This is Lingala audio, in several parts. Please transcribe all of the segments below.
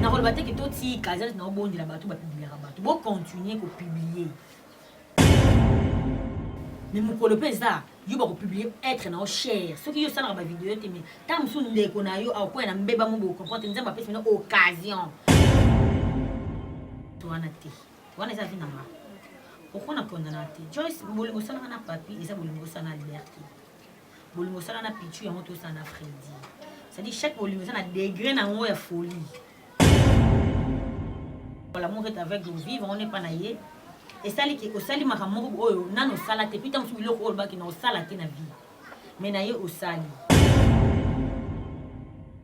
nakoloba te ke totika eza neti naobondela bato bapubliaka bato bocontinue kopublie me mokolo mpe eza yo bakopublie etre na yo chere soki yo osalaka bavideo te me ntango mosusu ndeko na yo akokwaya na mbeba mo bokomprante nzambe apesi mino occasion to wana te wana eza vi na nga okona kondana te joyce bolingo osalaka na papi eza bolingo osala na liberté bolingo osala na pichu yango tosala na fredi cetadi chaque bolingo eza na degre na yango ya folie l'amour est aveugle vivre on epa na ye esali ke osali makambo moko oyo nani osala te pita mosusu biloko oyo olobaki na osala te na vie me na ye osali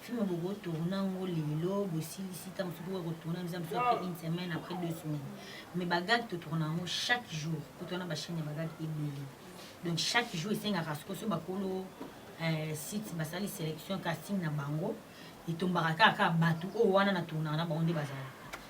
film boko tourna ngo lelo bosilisi ntango mosusu boko kotourna biza mosusu après une semaine après deux semaines mais bagag totourna yango chaque jour po towana bachaine ya bagag ebele donc chaque jour esengaka soko so bakolo euh, site basali sélection casting na bango etombaka kaka kaka bato oyo wana na tournaka na bango nde bazalaka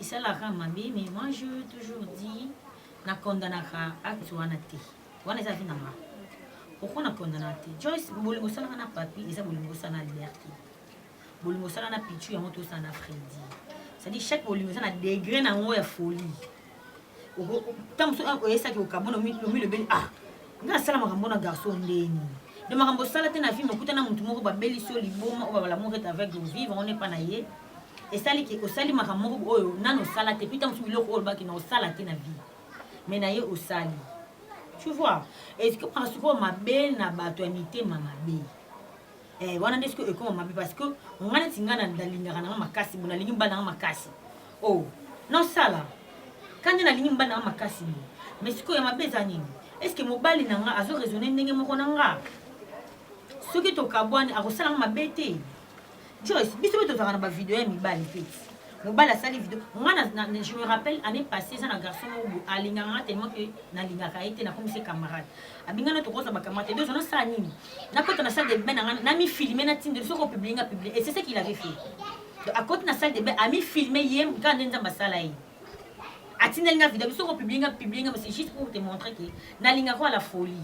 esalaka mabe mais moi je toujours dit na condamnaka acte wana te wana eza vi na nga pourquoi na condamnaka te joyce bolingo osalaka na papi eza bolingo osala na liberté bolingo osala na pichu yango tosala na fredi cestadire chaque bolingo eza na degre na yango ya folie ntango mosusu ah, oyesaki okabona omilobeli ah nga nasala makambo na garçon ndeni de makambo osala te na vie mokuta na motu moko babelisi yo liboma oyo babalamour est avec le vivre on epa na ye esali ke osali makambo moko oyo nano osala te mpe ntango mosusu biloko oyo olobaki na osala te na vie mais na ye osali tu vois ekomaka sikoyo mabe na bato ya mitema mabe eh, wana nde soki ekoma mabe parce que nga neti nga nalingaka nanga makasi bo nalingi mobali nanga makasi o oh, nasala ka nde nalingi mobali nanga makasi bo mais sikoyo ya mabe eza nini est ce que mobali na nga azo raisonne ndenge moko na nga soki tokabwani akosala nga mabe te joyce biso mpe tozalaka na bavideo ya mibali mpe mobali asali video nga je me rappelle année passé eza na garçon moko alingaka nga tellement ke nalingaka ye te nakomisi camarade abinga na tokoza bakamata ebezo nasala nini nakota na salle de bain nanga namifilme natindeli soki opublie nga publie et c'est ce qu'il avait fait donc akoti na salle de bain amifilme ye kaka nde nzambe asala ye atindeli nga video soki opublie nga publie nga mais c'est juste pour te montrer que nalingaka ya la folie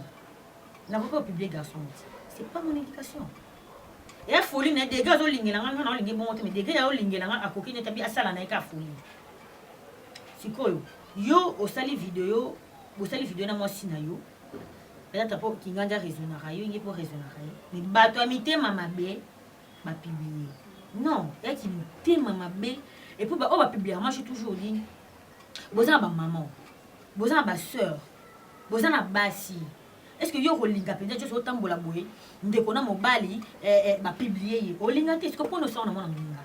nakoki opublie garçon te c'est pas mon éducation ya folie na degre azolingela nga nga naolingi bongo te mais degre ya olingela nga akoki netabi asala na ye ka folie sikoyo yo osali video bosali video na mwasi na yo peut-être mpo kingandi araisonnaka yo inge mpo raisonnaka ye mais bato ya mitema mabe bapiblie non eyaki mitema mabe epuis baoyo bapibliaka mache toujours nini boza na bamaman boza na basœur boza na basi est-ce que yo okolinga mpenza nyonso otambola boye ndeko na mobali eh, eh, bapiblie ye olinga te siko mpo nosala na mwana moninga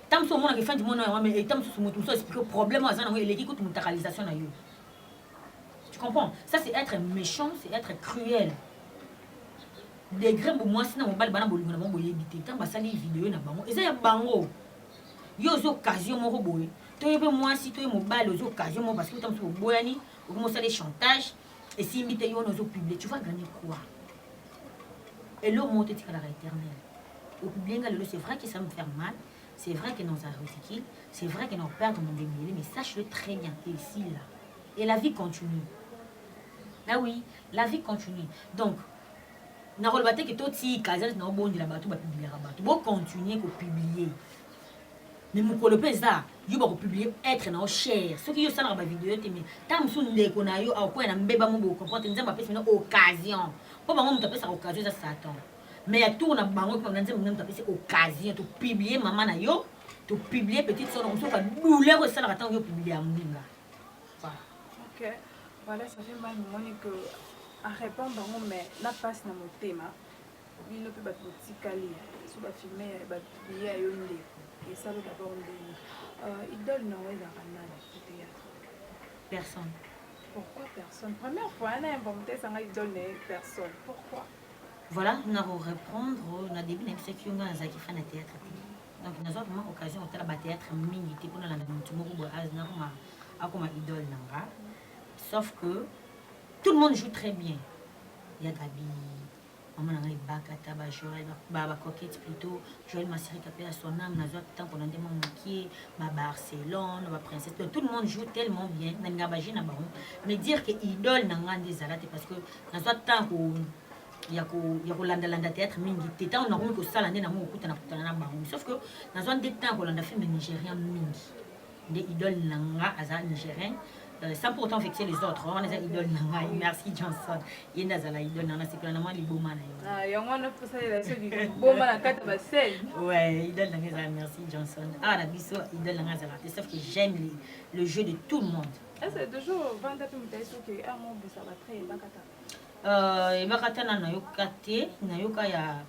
Tango mosusu omonaka efandi mwana yango mais etat mosusu moto mosusu explique problème oyo aza nango eleki kutu mutakalisation na yo tu comprends ça c'est être méchant c'est être cruel degre mbo mwasi na mobali bana bolingo na bango boyebi te ntango basali video na bango eza ya bango yo oza occasion moko boye to ye mpe mwasi to ye mobali oza occasion moko parce que ota mosusu oboyani okomi osali chantage esimbi te yo wana ozo publie tu vas gagner quoi elo moko totikalaka éternel opublie nga lelo c'est vrai que ça me faire mal c'est vrai que naza ridicule c'est vrai que nakoperdre mon dembele mais sache le très bien que ici là et la vie continue ah oui la vie continue donc nakoloba te ke totika eza neti naobondela bato bapubliaka bato bocontinue kopublie mais mukolo pe eza yo bako publier être na yo cher soki yo osalaka ba video te mais ta musu ndeko na yo akoya na mbeba mo bo comprendre nzambe apesi na occasion po bango mutu apesaka occasion eza satan mais ya tour na bango pe na nzambe mutu apesi occasion to publier mama na yo to publier petite sœur na musu ka douleur esalaka tango yo publier ya mbinga voilà okay. voilà ça fait mal moni que arépondre bango mais na pasi na motema bino mpe bato botikali so bafilme ya bato biye ya yo nde esalo dabord ndenge euh, idole na yo ezalaka nani théâtre personne pourquoi personne première fois ana invente esanga idole na ye personne pourquoi voilà na korépondre na début na bisaki yo ngai nazalaki fan ya théâtre te donc nazwa vraiment occasion kotala bathéâtre mingi te mpo nalanda motu moko boye nakoma akoma idole na nga sauf que tout le monde joue très bien ya gabi Maman na nga Ebakata ba Joël ba ba coquette plutôt Joël Masirika pe à son âme nazwa temps pona nde mwa mokie ba Barcelone ba princesse donc tout le monde joue tellement bien na nga ba jeu na bango mais dire que idole na nga nde ezala te parce que nazwa temps ko ya ko ya kolanda landa théâtre mingi te tango nakomi kosala nde nango kokutana kutana na bango sauf que nazwa nde temps kolanda film nigérian mingi nde idole na nga aza nigérien Euh, sans pour autant vexer les autres wana eza idole na ngai merci johnson ye nde azala idole na nasepela na mwa liboma na yo ah, yango wana tosalela so liboma na kati ya basele ouais idole na ngai ezala merci johnson awa ah, na biso idole na ngai azala te sauf que j'aime le jeu de tout le monde ese toujours vanda mpe moto ayesoki amobisa batre ebakata ebakata na nayoka te nayoka ya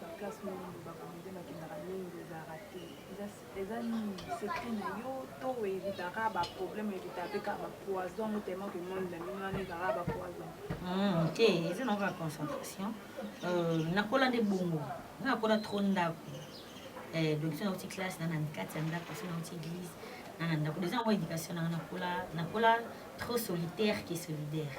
Ba classe mingi ba comedien bakendaka mingi ezalaka te eza nini secret na yo to evitaka ba problème evitaka mpe kaka ba poison yango tellement que monde na bino wana ezalaka ba poison hmm, te eza na kaka concentration euh, nakola nde bongo nga nakola trop ndako eh, donc so nauti classe nana kati ya ndako so nauti église nana ndako deja yango éducation nanga nakola nakola trop solitaire que solidaire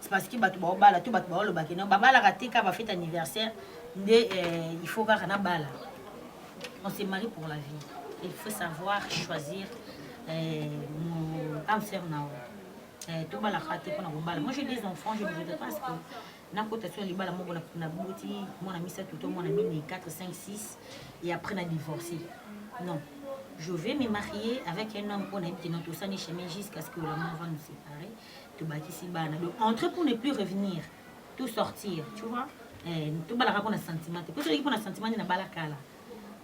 c'est parce que bato baobala to bato baoloba ke non babalaka te kaka bafete anniversaire nde eh, il faut kaka nabala on se marie pour la vie il faut savoir choisir eh, mon âme sœur nao eh, tobalaka te mpona kobala moi j'ai des enfants je ne voudrais pas que nakota so ya libala moko naboti mwana misato to mwana mine 4 5 6 et après na divorce non je vais me marier avec un homme mpo nayebi ke non tosani chemin jusqu'à ce que la mort va nous séparer tobakisi bana donc entrer pour ne plus revenir tout sortir tu vois eh, tobalaka mpona sentiment te mpo soki mpona sentiment nde nabala kala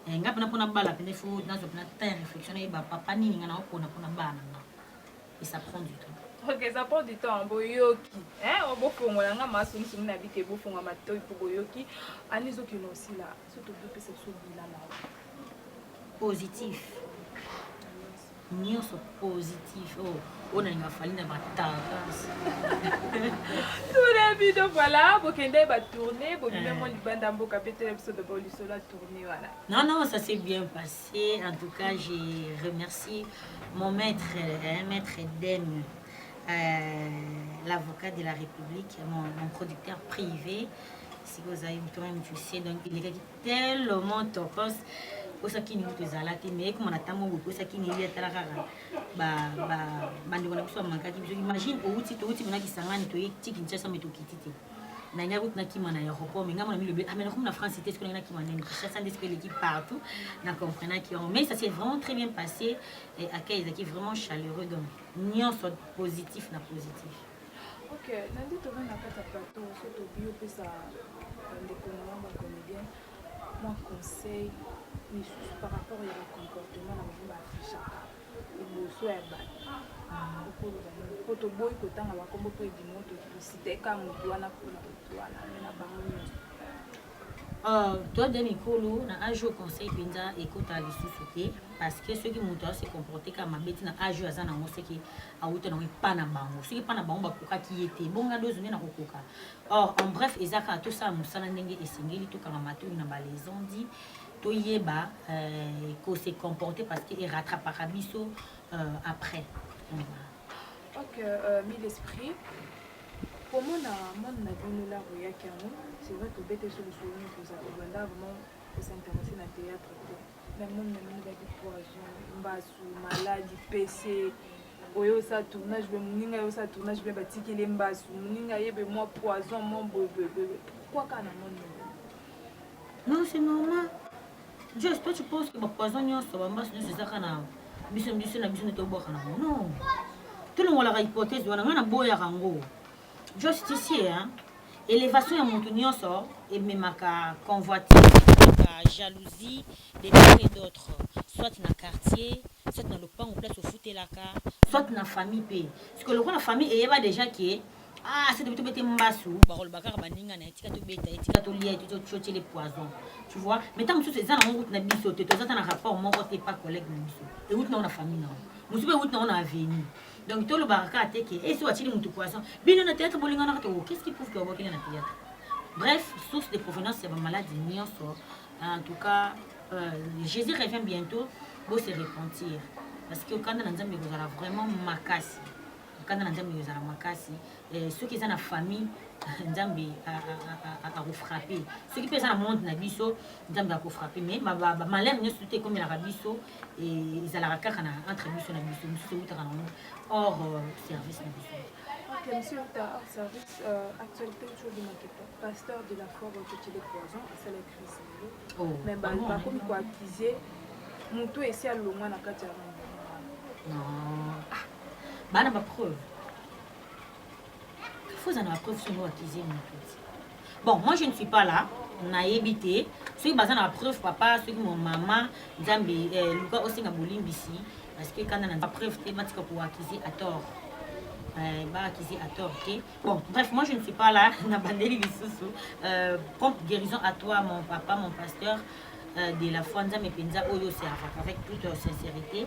eh, nga mpena mpona bala mpena fo nazwa mpena temps ya réflexion nayeba papa nini nga naopona mpona bana nga et ça prend du temps ok ça prend du temps boyoki oh, bofongola nga masungisumi na bike bofonga matoi mpo boyoki ani ezokende osila so tobopesa biso bilala positif nionso positif oh oyo nalinga fali na bataras tuna bino voilà bokende batourne bobime mwa libanda mboka mpe tela biso dabord lisolo ya tourne wana non non ça s'est bien passé en tout cas j'ai remercié mon maître hein, maître deme euh, l'avocat de la république mon, mon producteur privé sikoyo ozali motoma motusie donc elekaki tellement tokos ekosaki nini kutu ezala te mais ekoma na ntango yango ekosaki nini ye atala kaka bandeko na biso bamankaki biso imagine outi touti mona kisangani toye ti kinshasa me tokiti te nangai kutu nakima na aéroport mais ngai mona milobe amena ah, komi na france te soki nangai nakima nani kinshasa nde soki eleki partout na comprenaki yango mais ça s'est vraiment très bien passé accueil ezalaki vraiment chaleureux donc nyonso positif na positif Ok, lundi toza na kati ya plateau so tobi opesa bandeko na bango bacomédien mwa conseil misusu par rapport ya bacomportement na bango baaffichaka liboso ya bato okoloba nini mpo toboyi kotanga bakombo mpo edimo tokositeka motu wana mpona motu wana me na bango nyonso Uh, toi de mikolo na age oyo conseil mpenza ekota lisusu te parce que soki moto ase comporte kaka mabe ti na age oyo aza nango soki awuta nango epa na bango soki epa na bango bakokaki ye te bonga dozo nde nakokoka or en bref eza kaka tosala mosala ndenge esengeli tokanga matoi na balaison di toyeba euh, kose comporte parce que erattrapaka biso euh, après Ok, euh, mille esprits. komona monde na bino la royaki yango c'est vrai tobete so lisolo nini toza kobanda vraiment kosinteresse na théâtre te na monde na bino ezalaki poison mbasu maladi pese oyo osala tournage be moninga ye osala tournage be batikeli mbasu moninga ye be mwa poison mwa boyeboyeboye pourkui kaka na monde na bino non c'est normal Just toi tu penses que ba poison nyonso ba mbasi nyonso ezaka na biso biso na biso nde tobwaka na ngo non tolongolaka hypothèse wana ngai naboyaka ngo just ici hein elevation ya moto nyonso ememaka convoitise jalousie de part et d'autre soit na quartier soit na lopango place ofutelaka soit na famille mpe sikoyo lokola famille eyeba déjà ke Ah, c'est de bete mbasu. Bakoloba kaka baninga na ye tika tobeta ye tika tolia ye totiotie le poison. Tu vois? Mais ntango mosusu eza nango route na biso te toza ata na rapport moko te pa collègue na biso euti nango na famille nango mosusu mpe euti nango na avenue donc tolobaka kaka te ke esi watieli motu poison bino na théâtre bolinganaka te o oh, qu'est ce qui prouve ke obokende na théâtre bref source de provenance ya bamaladi nyonso en tout cas euh, jésus revient bientôt bose repentir parce que okanda na nzambe ekozala vraiment makasi Nkanda na Nzambe ezala makasi eh, soki eza na famille Nzambe akofrape soki mpe eza na monde na biso Nzambe akofrape mais bamalere nyonso te ekomelaka biso ezalaka kaka na entre biso na biso mosusu ewutaka nango hors euh, service na biso Okay, monsieur Ata, hors service, euh, actualité toujours du Maketo, pasteur de la foi Rotoche de Poison, c'est la crise. Oh, mais bah, bah, comme quoi accuser, mon tout essaie à l'homme à la carte. Non. Ah. ba na ba preuve faut ozala na ba preuve soki oaccuse moto bon moi je ne suis pas là nayebi te soki baza na preuve papa soki mo mama nzambe eh, luka osenga bolimbisi parce que kanda na preuve te batika koaccuse à tort eh, baakisi à tort te bon bref moi je ne suis pas là na bandeli lisusu euh, prompt guérison à toi mon papa mon pasteur euh, de la foi nzambe mpenza oyo oseavaka avec toute sincérité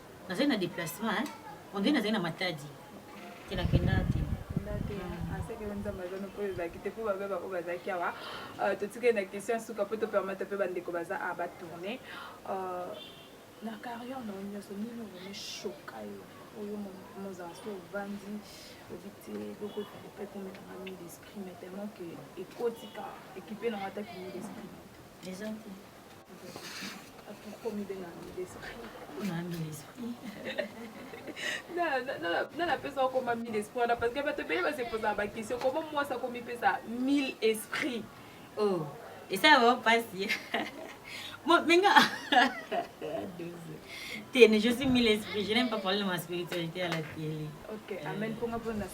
Nazali na deplacement hein. On dirait nazali na matadi. Kenda kenda te. aseke yo nzambe aza nopo ezalaki te mpo babe baoyo bazalaki awa euh, totikali na question ya suka mpo topermete mpe bandeko baza a batourne euh, na carrière na yo nyonso nini ovene shoka yo oyo mozala so ovandi obi te eloko epe ekomelanga mille esprit mais tellement ke ekotika ekipe nanga ata ki mille esprit napesa okoma mille esprit wana parce que bato ebele basepozaka bakestion koma mwasi akomipesa mille esprit oh, esala bango mpasi menga te ne je suis mille esprit je n'aime pas parler de ma spiritualité à la télé ok amen mponga mpo na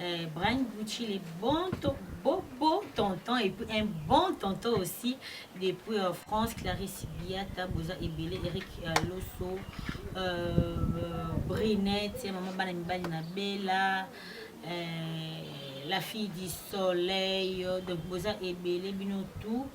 Euh, Brian Gucci, les bons beau, beau tonton et puis un bon tonton aussi depuis euh, France, Clarisse Biata, Boza Ebele, Eric euh, Losso, euh, Brinette, Maman Bana Mibali Bella, euh, la fille du soleil, euh, donc Boza Ebele, Bino tout.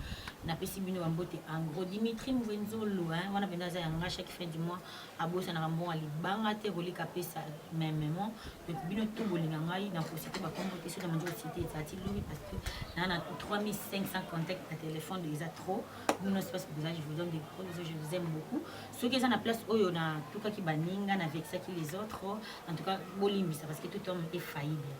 napesi bino bambote angro dimitri mvenzolo wana mpenza aza yanga chaque fin du mois abosanaka mbongo ya libanga te koleka apesa memement donc bino tout bolinga ngai na kosite bakombo te soki na manzi kosite ezati lobi parce que naa na 3500 contact na téléphone eza trop bino nyonso place boza je vous donne des gros bisous je vous aime beaucoup soki eza na place oyo natukaki baninga na vexaki les autres en tout cas bolimbisa parce que tout homme est faillible